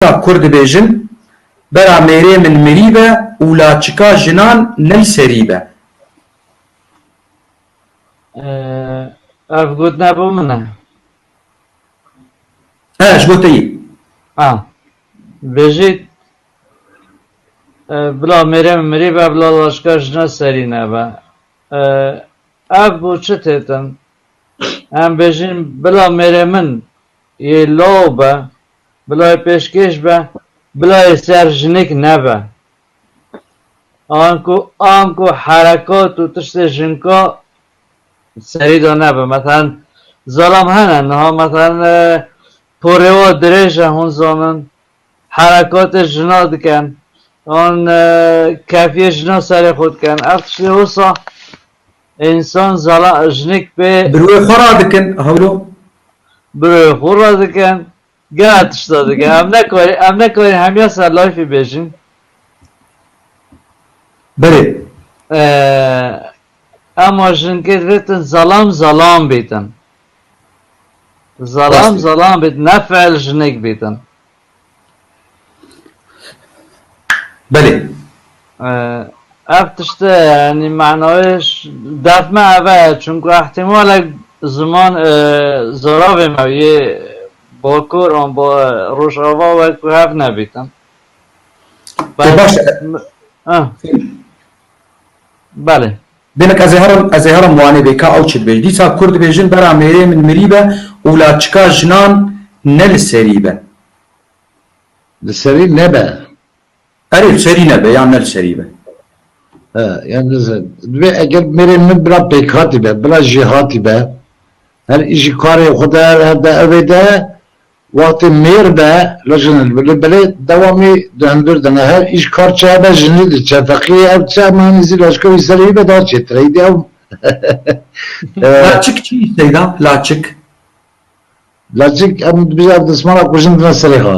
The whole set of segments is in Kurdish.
Ka kur dibêjin, Bera mêrê min mirî be û laçika jinan ney serî be. Ev gotina bo min e? He, ji bo te yê. Ha. Dibêjî, Bila mêrê min mirî be, bila laçika jinan serî nebe. Ev bo çi têtin? Em bêjin, Bila mêrê min. Yê law be, bila yê pêşkêş be, bila yê ser jinik nebe. Anku anku herekat û tiştê jinka serî de nebe. Meselan zalam hene niha meselan porê wan dirêj e hûn zanin herekatê jina dikin an kefiyê jina serê xwe dikin ev tiştê wisa Însan zala jinik bê. Bi rûyê xwe re dikin hewlo. Bi rûyê xwe re dikin gera tişta dikin. Em nekarin em nekarin hemiya ser lifê bêjin. Belê. Ema jinkê divêtin zalam zalam bêtin. Zalam zalam bêtin ne feel jinik bêtin. Belê. Ev tişte yanî manayê def me ev e çimku îhtîmalek ziman zaravê me yê Bakur an ba Rojava wekî hev nebîtin. Belê. Demek ez ê herim, ez ê herim Wanê bê ka ew çi dibêj. Dîsa Kurd dibêjin bera mêrê min mirî be û la çika jinan ne li serî be. Li serî nebe. Erê li serî nebe yan ne li serî be. He, yan ne li serî. Divê eger mêrê min bila pêkhatî be, bila jêhatî be, her îşî karê xwe de, her de evê de Wextê mêr be li jin li bilê belê dewamê di hundir de ne her îş kar çe be jinî di çe feqîyê ev çi hema henî zî leşker wî serê wî be da çê tire îdî ew Laçik çi îsteyda laçik? Laçik em dibijî ev dismala ku jin dine serê xwe.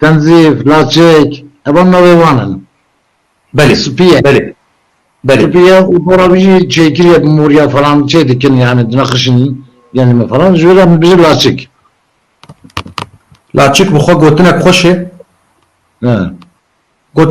Tenzîf, Laçek, evan navê wan in. Belê, Spî ye. Belê. Belê. Spî ye û dora wî jî çêkirî morîya falan çê dikin yanî di nexişîn genê me falan ji wêre min bijî Laçik. Laçik bi xwe gotinek xweş e. Gotinek.